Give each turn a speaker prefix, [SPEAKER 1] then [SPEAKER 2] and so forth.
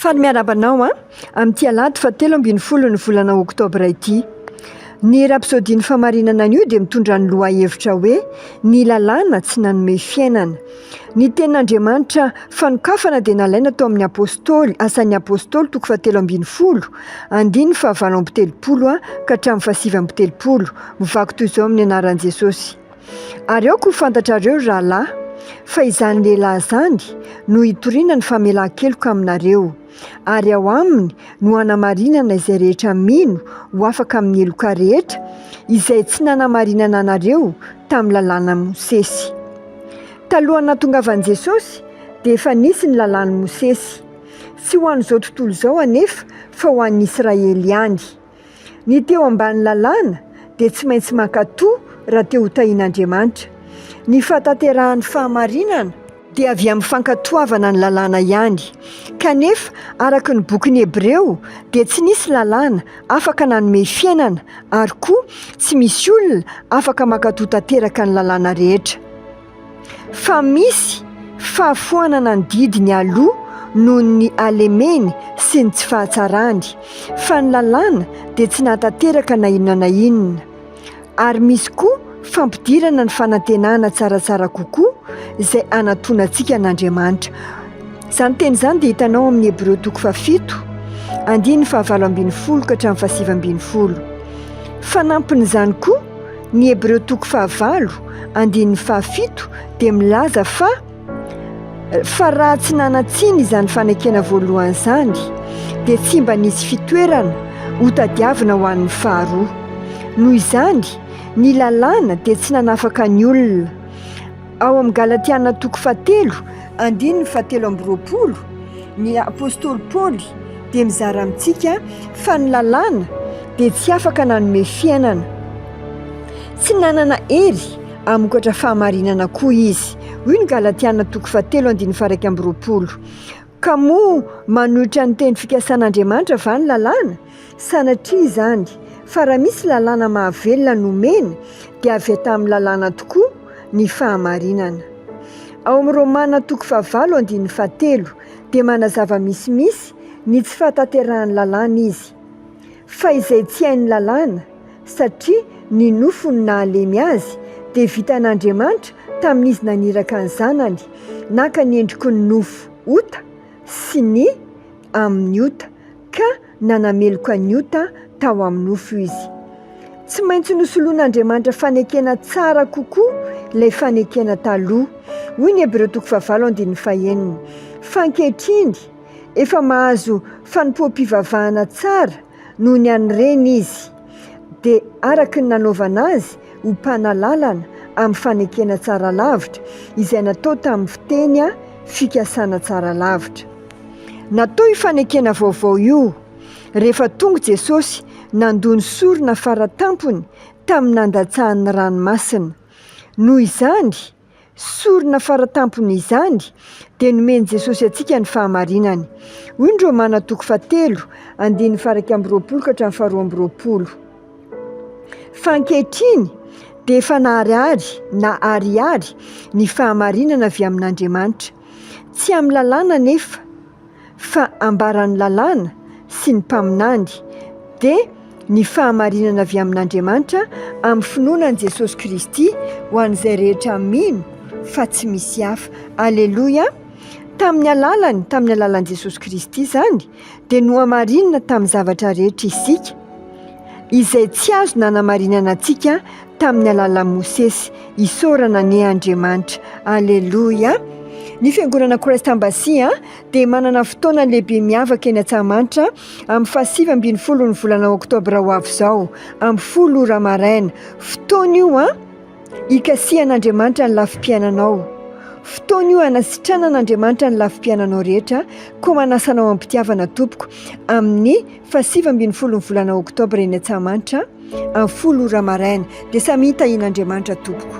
[SPEAKER 1] Faly miarahaba anao an! amin'ity alahady fahatelo ambin'ny folon'ny volana oktobra ity. Ny rapsodian'ny famarinana anio dia mitondra ny lohahevitra hoe Ny lalàna tsy nanome fiainana. Ny tenin'Andriamanitra fanokafana dia nalaina tao amin'ny Apostoly, Asan'ny Apostoly, toko fahatelo ambin'ny folo, andininy fahavalo amby telopolo ka hatramin'ny fahasivy amby telopolo. Mivaky toy izao amin'ny anaran'i Jesosy. Ary aoka ho fantatrareo, rahalahy, fa izany lehilahy izany no hitoriana ny famelan-keloka aminareo, ary ao aminy no hanamarinana izay rehetra mino ho afaka amin'ny heloka rehetra, izay tsy nanamarinana anareo tamin'ny lalànan'i Mosesy. Talohan'ny nahatongavan'i Jesosy, dia efa nisy ny lalàn'i Mosesy. Tsy ho an'izao tontolo izao anefa, fa ho an'ny Israely ihany. Ny te ho ambany lalàna dia tsy maintsy mankatò raha te ho tahin'Andriamanitra. Ny fahatanterahan'ny fahamarinana dia avy amin'ny fankatoavana ny lalàna ihany. Kanefa, araka ny bokin'ny Hebreo, dia tsy nisy lalàna afaka nanome fiainana, ary koa tsy misy olona afaka mankatò tanteraka ny lalàna rehetra. fa misy fahafoanana ny didiny aloha noho ny halemeny sy ny tsy fahatsarany, fa ny lalàna dia tsy nahatanteraka na inona na inona. Ary misy koa fampidirana ny fanantenana tsaratsara kokoa izay hanantonantsika an'Andriamanitra. Izany teny izany dia hitanao amin'ny Hebreo toko fahafito, andininy fahavalo ambin'ny folo ka hatramin'ny fahasivy ambin'ny folo. Fanampin'izany koa, Ny Hebreo toko fahavalo andininy fahafito dia milaza fa fa raha tsy nanan-tsiny izany fanekena voalohany izany dia tsy mba nisy fitoerana hotadiavina ho an'ny faharoa. Noho izany, ny lalàna dia tsy nanafaka ny olona Ao amin'ny Galatiana toko fahatelo, andininy fahatelo amby roapolo, ny apostoly Paoly dia mizara amintsika fa ny lalàna dia tsy afaka nanome fiainana. Tsy nanana hery hamokatra fahamarinana koa izy. Hoy ny Galatiana toko fahatelo, andininy faha-iraika amby roapolo. Ka moa manohitra ny teny fikasan'Andriamanitra va ny lalàna? Sanatria izany! Fa raha misy lalàna mahavelona nomena, dia avy tamin'ny lalàna tokoa ny fahamarinana. Ao amin'ny Romana toko fahavalo andininy fahatelo dia manazava misimisy ny tsy fahatanterahan'ny lalàna izy. Fa izay tsy hain'ny lalàna, satria ny nofo no nahalemy azy, dia vitan'Andriamanitra tamin'izy naniraka ny Zanany, naka ny endriky ny nofo ota sy ny amin'ny ota, ka nanameloka ny ota tao amin'ny nofo Izy. Tsy maintsy nosoloan'Andriamanitra fanekena tsara kokoa ilay fanekena taloha. Hoy ny Hebreo toko fahavalo andininy fahenina, Fa ankehitriny, efa mahazo fanompoam-pivavahana tsara, noho ny an'ny reny izy, dia araka ny nanaovana azy ho mpanalalana amin'ny fanekena tsara lavitra izay natao tamin'ny fiteny fikasana tsara lavitra. Natao io fanekena vaovao io rehefa tonga Jesosy nandoa ny sorona fara tampony tamin'ny nandatsahan'ny ranomasina. Noho izany, Sorona fara tampony izany, dia nomen'i Jesosy antsika ny fahamarinany. Hoy ny Romana toko fahatelo, andininy faha iraika amby roapolo ka hatramin'ny faharoa amby roapolo, Fa ankehitriny dia efa naharihary na ariary ny fahamarinana avy amin'Andriamanitra. Tsy amin'ny lalàna anefa. fa ambaran'ny lalàna sy ny mpaminany, dia ny fahamarinana avy amin'Andriamanitra amin'ny finoana an'i Jesosy Kristy ho an'izay rehetra mino fa tsy misy hafa. Aleloia! Tamin'ny alalany, tamin'ny alalan'i Jesosy Kristy izany, dia nohamarinina tamin'ny zavatra rehetra isika, izay tsy azo nanamarinana antsika tamin'ny alalan'i Mosesy, isaorana anie Andriamanitra, aleloia! Ny fiangonana Christ Embassy dia manana fotoana lehibe miavaka eny Antsahamanitra amin'ny fahasivy ambin'ny folo ny volana oktobra ho avy izao amin'ny folo ora maraina. Fotoana io an, hikasihan'Andriamanitra ny lafim-piainanao. Fotoana io hanasitranan'Andriamanitra ny lafim-piainanao rehetra, koa manasa anao am-pitiavana tompoko amin'ny Faha sivy ambin'ny folo ny volana oktobra eny Antsahamanitra, amin'ny folo ora maraina, dia samy hitahian'Andriamanitra tompoko.